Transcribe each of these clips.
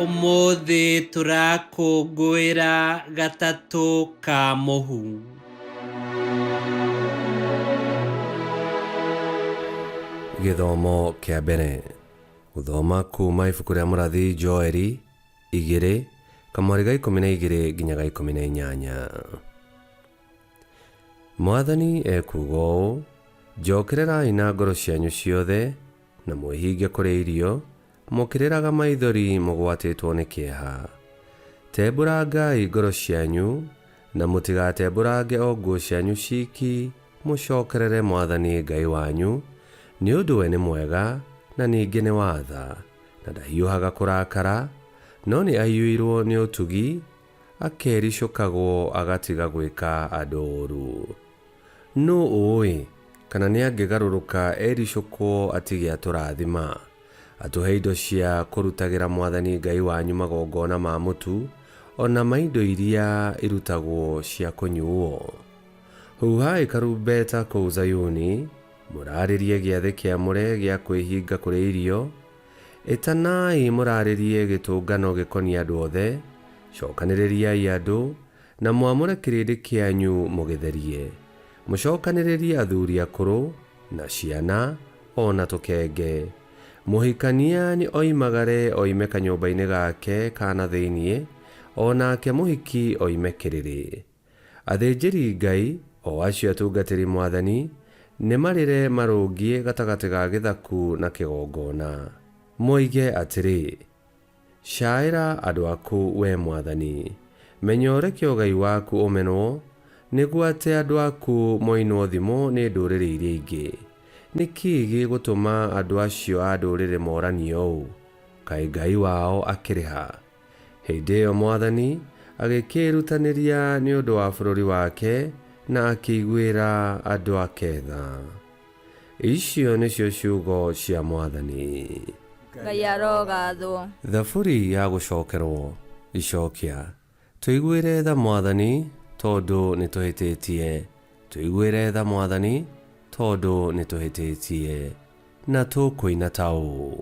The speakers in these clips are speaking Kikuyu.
ũmũthĩ tũrakũngũĩra gatatũ ka mũhu gĩthomo kĩa mbere gũthoma kuuma ibuku rĩa mũrathi joeli igĩrĩ kamwarĩ ga ikũmi na igĩrĩ nginya ga ikũmi na inyanya Mwathani ekuuga ũũ, Njookererai na ngoro cianyu ciothe, na mwĩhinge kũrĩa irio, mũkĩrĩraga maithori mũgwatĩtwo nĩ kĩeha. Tembũrangai ngoro cianyu, na mũtigatembũrange o nguo cianyu ciiki, mũcookerere Mwathani Ngai wanyu, nĩ ũndũ we nĩ mwega, na ningĩ nĩ wa tha, na ndahiũhaga kũrakara, no nĩ aiyũirwo nĩ ũtugi, Akericũkagwo agatiga gwĩka andũ ũũru. Nũ ũũĩ kana nĩ angĩgarũrũka ericũkwo atige atũrathima, atũhe indo cia kũrutagĩra Mwathani Ngai wanyu magongona ma mũtu, o na ma indo iria irutagwo cia kũnyuuo? Huuhai karumbeta kũu Zayuni, mũraarĩrie gĩathĩ kĩamũre gĩa kwĩhinga kũrĩa irio, Ĩtanai mũraarĩrie gĩtũngano gĩkoniĩ andũ othe, cookanĩrĩriai andũ, na mwamũre kĩrĩndĩ kĩanyu mũgĩtherie. Mũcookanĩrĩrie athuuri akũrũ, na ciana, o na tũkenge. Mũhikania nĩ oimagare oime kanyũmba-inĩ gake ka na thĩinĩ, o nake mũhiki oime kĩrĩrĩ. Athĩnjĩri Ngai, o acio atungatĩri mwathani, nĩ marĩre marũngiĩ gatagatĩ ga gĩthaku na kĩgongona, moige atĩrĩ, Caaĩra andũ aku, wee mwathani, menyorekio Ngai waku ũmenwo, nĩguo atĩ andũ aku moinwo thimo nĩ ndũrĩrĩ iria ingĩ. Nĩ kĩĩ gĩgũtũma andũ acio a ndũrĩrĩ mooranie ũũ, Kaĩ Ngai wao akĩrĩ ha? Hĩndĩ ĩyo mwathani agĩkĩĩrutanĩria nĩ ũndũ wa bũrũri wake na akĩiguĩra andũ ake tha. Icio nĩcio ciugo cia mwathani. Ngai arogathwo. Thaburi ya gũcokerwo. Icokia. Tũiguĩre tha mwathani, tondũ nĩtũhĩtĩtie. Tũiguĩre tha mwathani, tondũ nĩtũhĩtĩtie. Na tũkũina ta ũũ.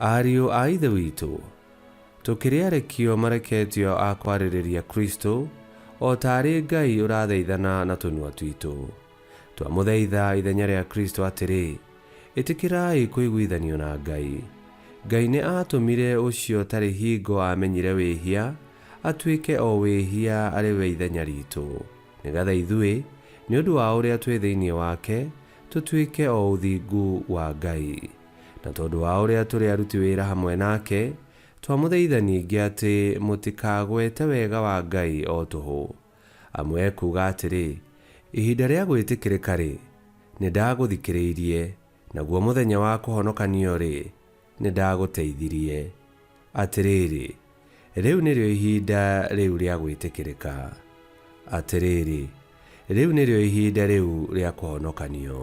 Ariũ a Ithe witũ, tũkĩrĩarekio mareketio a kwarĩrĩria Kristo, o ta arĩ Ngai ũrathaithana na tũnua twitũ. Twamũthaitha ithenya rĩa Kristo atĩrĩ, Ĩtĩkĩrai kũiguithanio na Ngai. Ngai nĩ aatũmire ũcio tarĩ hingo aamenyire wĩhia, atuĩke o wĩhia arĩ we ithenya ritũ, nĩgetha ithuĩ, nĩ ũndũ wa ũrĩa twĩ thĩinĩ wake, tũtuĩke o ũthingu wa Ngai. Na tondũ wa ũrĩa tũrĩ aruti wĩra hamwe nake, twamũthaitha ningĩ atĩ mũtikagwete wega wa Ngai o tũhũ. Amu ekuuga atĩrĩ, Ihinda rĩa gwĩtĩkĩrĩka-rĩ, nĩndagũthikĩrĩirie, naguo mũthenya wa kũhonokanio-rĩ, nĩndagũteithirie. Atĩrĩrĩ, rĩu nĩrĩo ihinda rĩu rĩa gwĩtĩkĩrĩka. Atĩrĩrĩ, rĩu nĩrĩo ihinda rĩu rĩa kũhonokanio.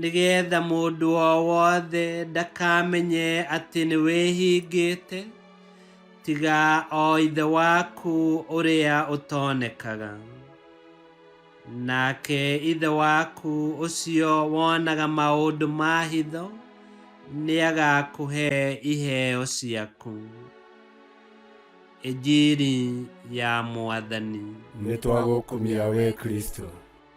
nĩgetha mũndũ o wothe ndakamenye atĩ nĩ wĩhingĩte tiga o ithe waku ũrĩa ũtonekaga nake ithe waku ũcio wonaga maũndũ ma hitho nĩagakũhe iheo ciaku ĩnjiri ya mwathani nĩ twagũkumia wee kristo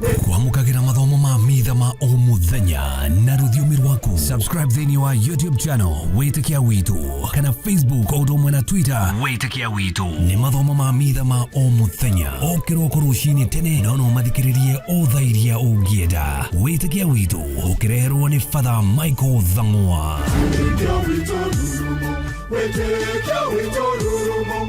kwamũkagĩra mathomo ma mitha ma o mũthenya na rũthiomi rwaku subscribe thĩinĩ wa youtube channel wĩtĩkia witũ kana facebook o ũndũ ũmwe na twitter wĩtĩkia witũ nĩ mathomo ma mitha ma o mũthenya o kĩroko rũcinĩ tene no no mathikĩrĩrie o thaa iria ũngĩenda wĩtĩkia witũ ũkĩreherwo nĩ fatha michael thang'wa Wĩtĩkia witũ rurumo, wĩtĩkia witũ rurumo,